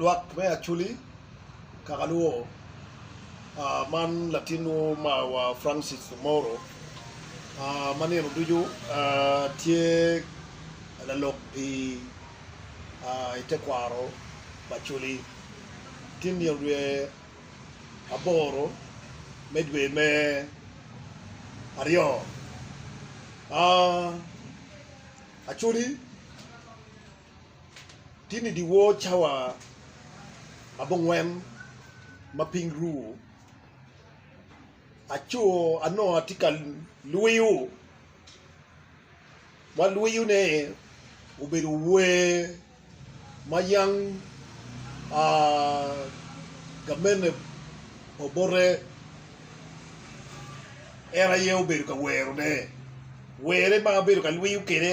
Lwak me Acholi, Kakalwo, man latinwu marwa Francis Omoro ma nino ducu tye lalok i tekwaro pa Acholi. Ki i nino dwe aboro me dwe me aryo, Acholi, Tinni dyewor cawa abongwen ma piny ru, aco anongo atye ka lwiyo, ma lwiyone obedo wer ma yam gamente pa obote en aye obedo ka werone, were ma abedo ka lwiyo kwede.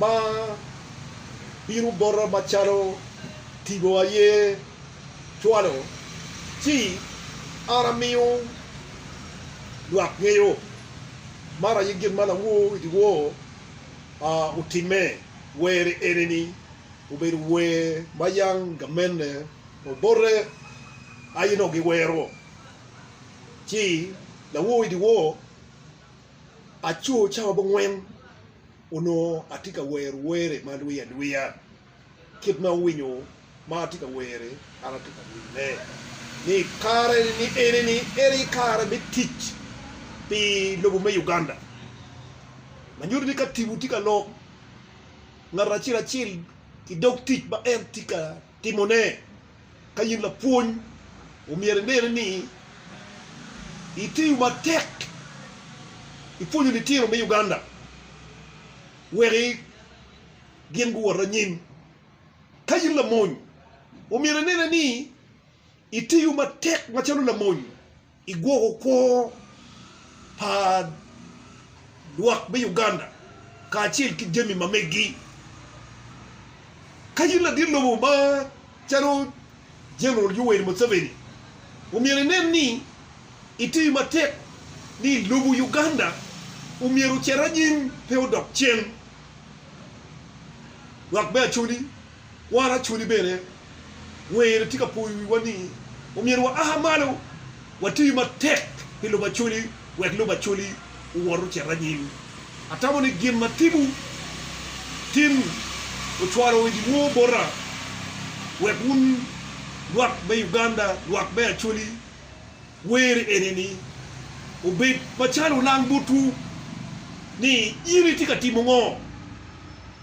ma bino bota macalo tipo aye cwalo, ci an amiyo lwak ngeyo. Man aye gin ma lawor i dyewor otimme, were ene-ni obedo wer ma yam gamenne obote aye nongo giwero, ci lawor i dyewor. Aco cawa bongwen onongo atye ka wero were ma adwiyo adwiya. Kit ma awinyo ma atye ka were, an atye ka mine ni i kare ni eni ni en aye kare me tic pi lobo me Uganda. Ma nyuto ni ka tibu tye ka lok ngat acel acel i dog tic ma en tye ka Timone. Ka in lapwony, omyero inene ni itiyo matek i pwonyo litino me Uganda wek gin guwot anyim. Ka in lamony, omyero inene ni itiyo matek macalo lamony I gwoko kor pa lwak me Uganda kacel ki jami ma meggi, ka in ladit lobo ma calo General Yoweri Museveni, omyero inen ni itiyo matek ni lobo Uganda omyero ocit anyim pe odok cen. Lwak me Acholi Wan acwali bene, Wer tye ka poyo wiwa ni omyero wa aa malo wati matek pi lubo Acwali wek lubo Acwali owot ocit anyim. Atamo ni gin ma timwu tin ocwalo idi woo bota wek wun lwak me Uganda, lwak me Acwali, wer eni-ni obed macalo olang botwu ni in itye ka timo ngo.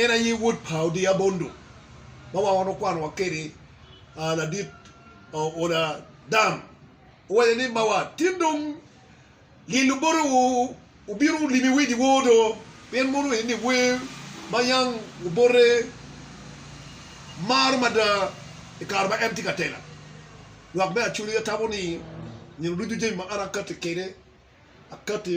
En aye wod pa Odiabondo ma wan wano kwanowa kede ladit oda dam. Owaco ni mawa tin dong lyel obote wu wubino limi wedi wor do pien mono en ni wer ma yang obote maro mada i kare ma en tye ka tela. Lwak me Acholi atamo ni nino ducu jami ma an akati kede akati.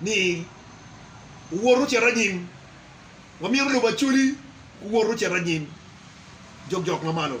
ni owor ocit anyim. Wamyero olubo acoli ku wor ocit anyim jokjok ma malo.